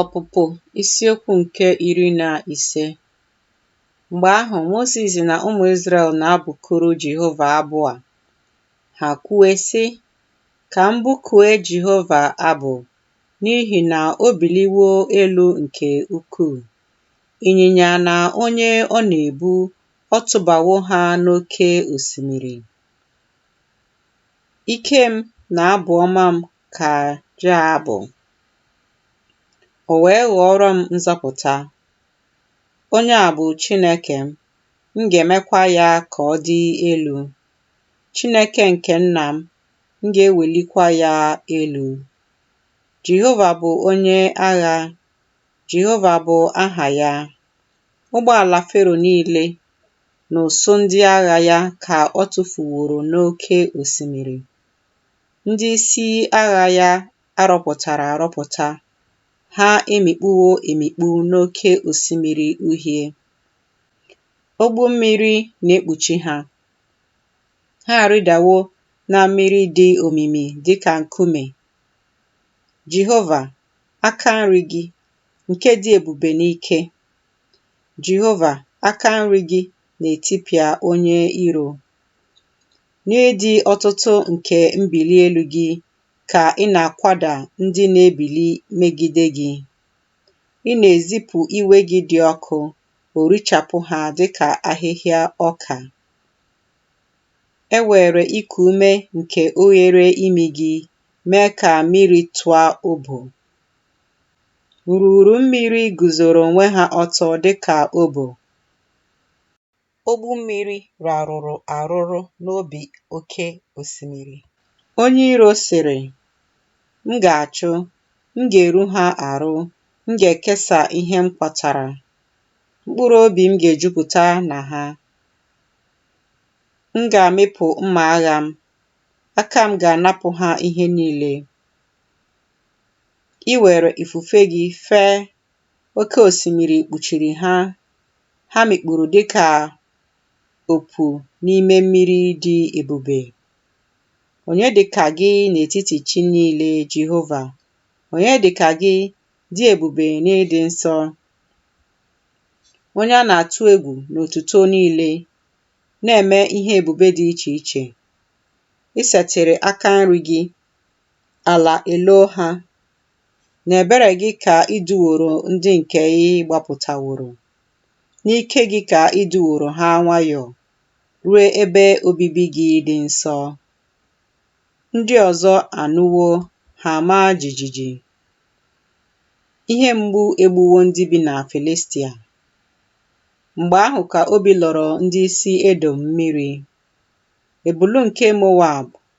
Ọpụpụ isiokwu nke iri na ise Mgbe ahụ, Mozis na ụmụ Izrel na-abụkuru Jehova abụ a. Ha kwue, sị, Ka m bụkue Jehova abụ, n'ihi na o biliwo elu nke ukwuu. Ịnyịnya na onye ọ na-ebu, ọ tụbawo ha n'oke osimiri. Ike m na abụ ọma m ka Ja bụ, o wee ghọọrọ m nzọpụta. Onye a bụ Chineke m, m ga-emekwa ya ka ọ dị elu. Chineke nke nna m, m ga-ewelikwa ya elu. Jehova bụ onye agha, Jehova bụ aha ya. Ụgbọala Fero niile na usuu ndị agha ya ka ọ tụfuworo n'oke osimiri. Ndị isi agha ya a rọpụtara arọpụta, ha emikpuwo emikpu n'Oke Osimiri Uhie. Ogbu mmiri na-ekpuchi ha. Ha arịdawo na mmiri dị omimi dị ka nkume. Jehova, aka nri gị, nke dị ebube n'ike. Jehova, aka nri gị na-etipịa onye iro. N'ịdị ọtụtụ nke mbili elu gị ka ị na-akwada ndị na-ebili megide gị. Ị na-ezipụ iwe gị dị ọkụ, o richapụ ha dị ka ahịhịa ọka. E were iku ume nke oghere imi gị mee ka mmiri tụọ obo. Nrughuru mmiri guzoro onwe ha ọtọ dị ka obo. Ogbu mmiri rarụrụ arụrụ n'obi oke osimiri. Onye iro sịrị, M ga-achụ, m ga-eru ha arụ, m ga-ekesa ihe m kwatara, mkpụrụ obi m ga-ejupụta na ha. M ga-amịpụ mma agha m, aka m ga-anapụ ha ihe niile. I were ifufe gị fee Oke osimiri kpuchiri ha, ha mikpuru dị ka opu n'ime mmiri dị ebube. Onye dị ka gị n'etiti chi niile, Jehova? Onye dị ka gị dị ebube n'ịdị nsọ? Onye a na-atụ egwu n'otuto niile, na-eme ihe ebube dị iche iche. Ị setịrị aka nri gị, ala eloo ha, N'ebere gị ka i duworo ndị nke ị gbapụtaworo, n'ike gị ka i duworo ha nwayọọ ruo ebe obibi gị dị nsọ. Ndị ọzọ anụwo, ha amaa jijiji. Ihe mgbu egbuwo ndị bi na Filistia. Mgbe ahụ ka obi lọrọ ndị isi Edọm mmiri, ebulu nke Moab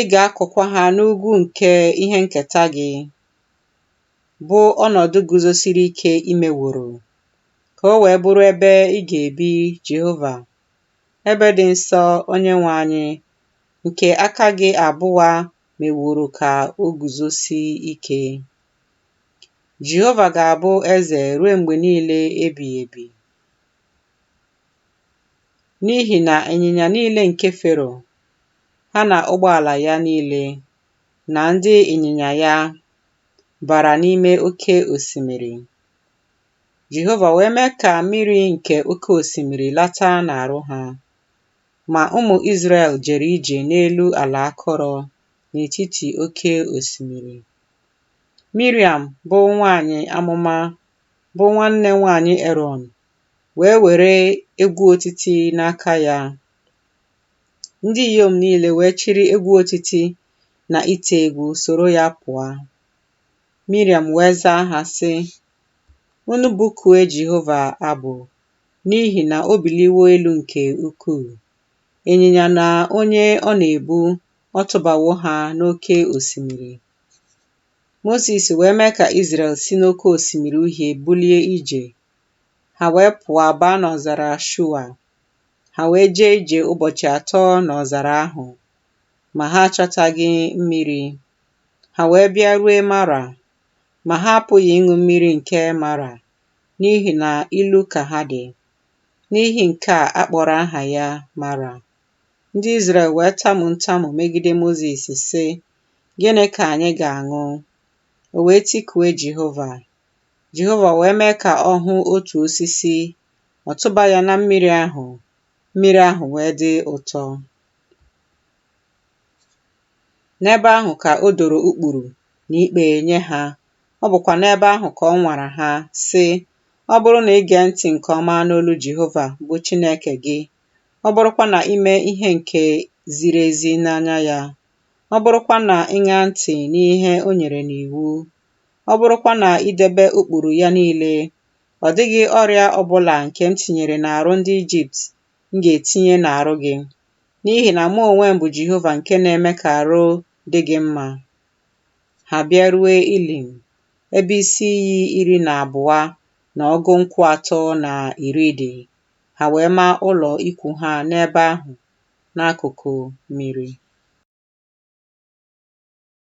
Ị ga-akụkwa ha n'ugwu nke ihe nketa gị, bụ ọnọdụ guzosiri ike i meworo, ka o wee bụrụ ebe ị ga-ebi, Jehova, ebe dị nsọ, Onyenwe anyị, nke aka gị abụa meworo ka o guzosie ike. Jehova ga-abụ eze ruo mgbe niile ebighị ebi. N'ihi na ịnyịnya niile nke Fero, ha na ụgbọala ya niile, na ndị ịnyịnya ya bara n'ime oke osimiri. Jehova wee mee ka mmiri nke oke osimiri lata n'arụ ha. Ma ụmụ Izrel jere ije n'elu ala akọrọ n'etiti oke osimiri. Miriam, bụ nwanyị amụma bụ nwanne nwanyị Erọn, wee were egwu otiti n'aka ya. Ndị inyom niile wee chịrị egwu otiti na ite egwu soro ya pụọ. Miriam wee zaa ha, sị, Unu bụkue Jehova abụ, n'ihi na o biliwo elu nke ukwuu. Ịnyịnya na onye ọ na-ebu, ọ tụbawo ha n'oke osimiri. Mozis wee mee ka Izrel si n'oke osimiri uhie bulie ije. Ha wee pụọ baa n'ọzara Shua. Ha wee jee ije ụbọchị atọ n'ọzara ahụ, ma ha achọtaghị mmiri. Ha wee bịa rue Mara, ma ha apụghị ịṅụ mmiri nke Mara, n'ihi na ilu ka ha dị. N'ihi nke a a kpọrọ aha ya Mara. Ndị Izrel wee tamu ntamu megide Mozis, sị, Gịnị ka anyị ga-aṅụ? O wee tikue Jehova. Jehova wee mee ka ọ hụ otu osisi, ọ tụba ya na mmiri ahụ, mmiri ahụ wee dị ụtọ. N'ebe ahụ ka o doro ụkpụrụ na ikpe nye ha. Ọ bụkwa n'ebe ahụ ka ọ nwara ha, sị, Ọ bụrụ na i gee ntị nke ọma n'olu Jehova bụ Chineke gị, ọ bụrụkwa na i mee ihe nke ziri ezi n'anya ya, ọ bụrụkwa na ị ṅaa ntị n'ihe o nyere n'iwu, ọ bụrụkwa na i debe ụkpụrụ ya niile, ọ dịghị ọrịa ọ bụla nke m tinyere n'arụ ndị Ijipt m ga-etinye n'arụ gị, n'ihi na mụ onwe m bụ Jehova nke na-eme ka arụ dị gị mma. Ha bịarue Ilim, ebe isi iyi iri na abụọ na ọgụ nkwụ atọ na iri dị, ha wee maa ụlọ ikwu ha n'ebe ahụ. n'akụkụ miri.